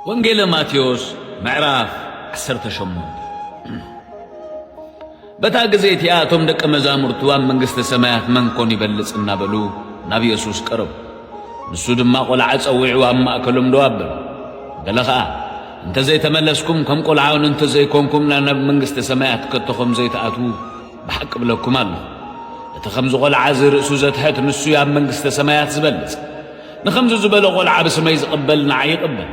ወንጌለ ማቴዎስ ምዕራፍ 18 በታ ጊዜ እቲኣ እቶም ደቀ መዛሙርቱ ኣብ መንግሥተ ሰማያት መን ኮን ይበልጽ እናበሉ ናብ ኢየሱስ ቀረቡ። ንሱ ድማ ቈልዓ ጸዊዑ ኣብ ማእከሎም ደው ኣበለ። ገለ ኸኣ እንተ ዘይተመለስኩም ከም ቈልዓውን እንተ ዘይኮንኩምና ናብ መንግሥተ ሰማያት ከቶ ኸም ዘይትኣትዉ ብሓቂ እብለኩም ኣሎኹ፣ እቲ ኸምዚ ቖልዓ እዚ ርእሱ ዘትሕት፣ ንሱ እዩ ኣብ መንግስተ ሰማያት ዝበልጽ። ንኸምዚ ዝበለ ቖልዓ ብስመይ ዚቕበል፣ ንዓይ ይቕበል።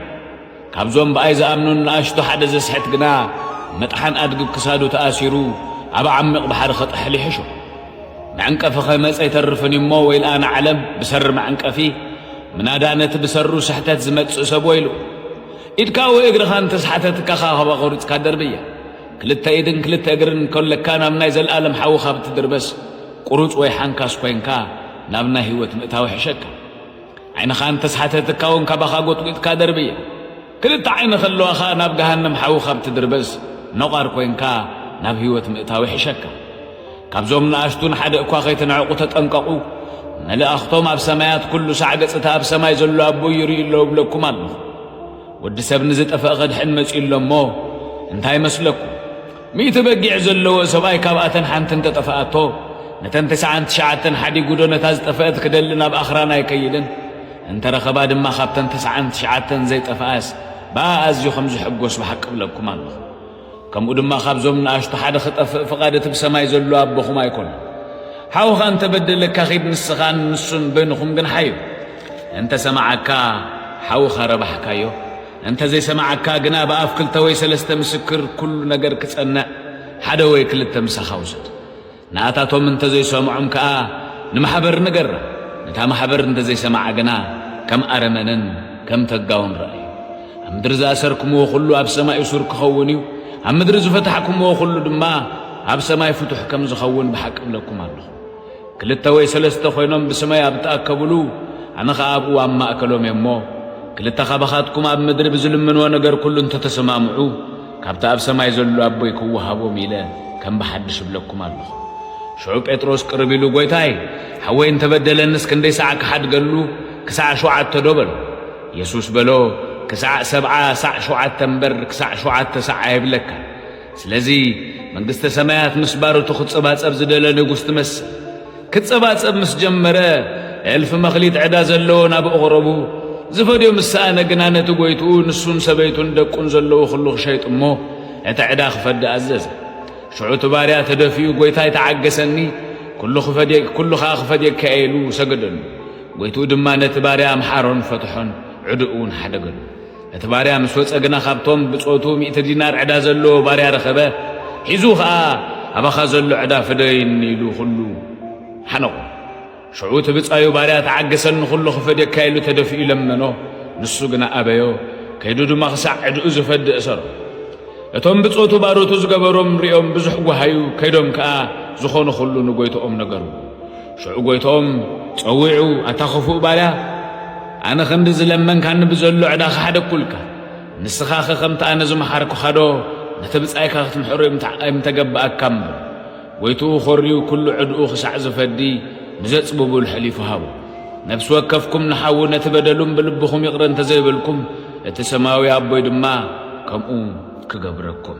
ካብዞም ብኣይ ዝኣምኑን ንኣሽቱ ሓደ ዜስሕት ግና፣ መጥሓን ኣድጊ ብ ክሳዱ ተኣሲሩ፣ ኣብ ዓሚቕ ባሕሪ ኸጥሕል ይሕሾ። መዕንቀፊ ኸይመጸ ኣይተርፍን እዩ እሞ፣ ወይልኣ ንዓለም፣ ብሰሪ መዕንቀፊ፣ ምናዳ ነቲ ብሰሩ ስሕተት ዚመጽእ ሰብ ወይልኡ። ኢድካ ወይ እግርኻ እንተ ኣስሓተትካ፣ ኻባኻ ቈሪጽካ ደርብያ። ክልተ ኢድን ክልተ እግርን እንከለካ ናብ ናይ ዘልኣለም ሓዊ ካብ እትድርበስ ቁሩጽ ወይ ሓንካስ ኮይንካ ናብ ናይ ህይወት ምእታው ይሕሸካ። ዓይንኻ እንተስሓተትካ እውን ካባኻ ጎጥጒጥካ ደርብያ። ክልተ ዓይኒ ከለዋኻ ናብ ገሃነም ሓዊ ካብ እትድርበስ ነቋር ኮይንካ ናብ ህይወት ምእታው ይሕሸካ። ካብዞም ንኣሽቱ ንሓደ እኳ ከይትንዕቁ ተጠንቀቑ፣ መልኣኽቶም ኣብ ሰማያት ኩሉ ሳዕ ገጽ እቲ ኣብ ሰማይ ዘሎ ኣቦይ ይርእዩ ኣለዉ እብለኩም ኣለኹ። ወዲ ሰብ ንዝጠፈእ ከድሕን መጺኡ ኣሎ እሞ እንታይ ይመስለኩም ሚእቲ በጊዕ ዘለዎ ሰብኣይ ካብኣተን ሓንቲ እንተጠፈኣቶ ነተን ተስዓን ትሽዓተን ሓዲጉዶ ነታ ዝጠፈእት ክደሊ ናብ ኣኽራን ኣይከይድን እንተረኸባ ድማ ካብተን ተስዓን ትሽዓተን ዘይጠፈኣስ ብኣ ኣዝዩ ከም ዝሕጎስ ብሓቂ እብለኩም ኣለኹ ከምኡ ድማ ካብዞም ንኣሽቱ ሓደ ክጠፍእ ፍቓድ እቲ ብሰማይ ዘሎ ኣቦኹም ኣይኮነን። ሓውኻ እንተ በደለካ ኺድ ንስኻን ንሱን በይንኹም ግን ሓዩ። እንተ ሰማዓካ ሓውኻ ረባሕካዮ። እንተ ዘይሰማዓካ ግና ብኣፍ ክልተ ወይ ሰለስተ ምስክር ኩሉ ነገር ክጸንዕ ሓደ ወይ ክልተ ምሳኻ ውሰድ። ንኣታቶም እንተዘይሰምዖም ከኣ ንማሕበር ንገራ፣ ነታ ማሕበር እንተዘይሰምዓ ግና ከም ኣረመንን ከም ተጋውን ርኣዩ። ኣብ ምድሪ ዝኣሰርክምዎ ዅሉ ኣብ ሰማይ እሱር ኪኸውን እዩ፣ ኣብ ምድሪ ዝፈታሕክምዎ ዅሉ ድማ ኣብ ሰማይ ፍቱሕ ከም ዚኸውን ብሓቂ እብለኩም ኣሎኹ። ክልተ ወይ ሰለስተ ዀይኖም ብስመይ ኣብ እተኣከቡሉ፣ ኣነ ኸኣ ኣብኡ ኣብ ማእከሎም እየ እሞ፣ ክልተ ኻባኻትኩም ኣብ ምድሪ ብዚልምንዎ ነገር ኵሉ እንተተሰማምዑ፣ ካብቲ ኣብ ሰማይ ዘሎ ኣቦይ ክወሃቦም ኢለ ከም ብሓድሽ እብለኩም ኣሎኹ። ሽዑ ጴጥሮስ ቅርብ ኢሉ ጐይታይ፣ ሓወይ እንተ በደለንስ ክንደይ ሳዕ ክሓድገሉ፣ ክሳዕ ሾውዓተዶ? በሎ። የሱስ በሎ፣ ክሳዕ ሰብዓ ሳዕ ሾውዓተ እምበር፣ ክሳዕ ሾውዓተ ሳዕ ኣይብለካን። ስለዚ፣ መንግስተ ሰማያት ምስ ባሮቱ ክጸባጸብ ዝደለ ንጉስ ትመስል። ክጸባጸብ ምስ ጀመረ፣ እልፊ መኽሊት ዕዳ ዘለዎ ናብ እቕረቡ ዝፈድዮ ምስ ሰኣነ ግና ነቲ ጎይትኡ ንሱን ሰበይቱን ደቁን ዘለዎ ኹሉ ክሸይጥ እሞ እቲ ዕዳ ክፈዲ ኣዘዘ። ሽዑ እቲ ባርያ ተደፊኡ ጎይታይ ተዓገሰኒ ኩሉ ክፈድየ ኩሉ ከኣ ክፈድየካ እየ ኢሉ ሰገደሉ። ጎይትኡ ድማ ነቲ ባርያ ኣምሓሮን ፈትሖን ዕድኡ እውን ሓደገሉ። እቲ ባርያ ምስ ወጸ ግና ካብቶም ብጾቱ ሚእቲ ዲናር ዕዳ ዘለዎ ባርያ ረኸበ፣ ሒዙ ኸኣ ኣባኻ ዘሎ ዕዳ ፍደየኒ ኢሉ ኹሉ ሓነቖ። ሽዑ እቲ ብጻዩ ባርያ ተዓገሰኒ ኹሉ ክፈድየካ ኢሉ ተደፊኡ ለመኖ፣ ንሱ ግና ኣበዮ፣ ከይዱ ድማ ክሳዕ ዕድኡ ዝፈድእ እሰሮ። እቶም ብጾቱ ባሮቱ ዝገበሮም ርእዮም ብዙሕ ጓሃዩ፣ ከይዶም ከኣ ዝኾነ ኹሉ ንጎይትኦም ነገርዎ። ሽዑ ጎይትኦም ጸዊዑ ኣታ ኽፉእ ባርያ ኣነ ኽንዲ ዝለመንካኒ ብዘሎ ዕዳ ኸሓደኩልካ ንስኻኸ ከምቲ ኣነ ዝመሓርኩኻዶ ነቲ ብጻይካ ክትምሕሮ ኣይምተገባኣካ እሞ ጎይትኡ ኾርዩ ኩሉ ዕድኡ ክሳዕ ዝፈዲ ንዘጽብቡል ሐሊፉ ሃቦ ነፍሲ ወከፍኩም ንሓዉ ነቲ በደሉም ብልብኹም ይቕረ እንተ ዘይበልኩም እቲ ሰማያዊ ኣቦይ ድማ ከምኡ ክገብረኩም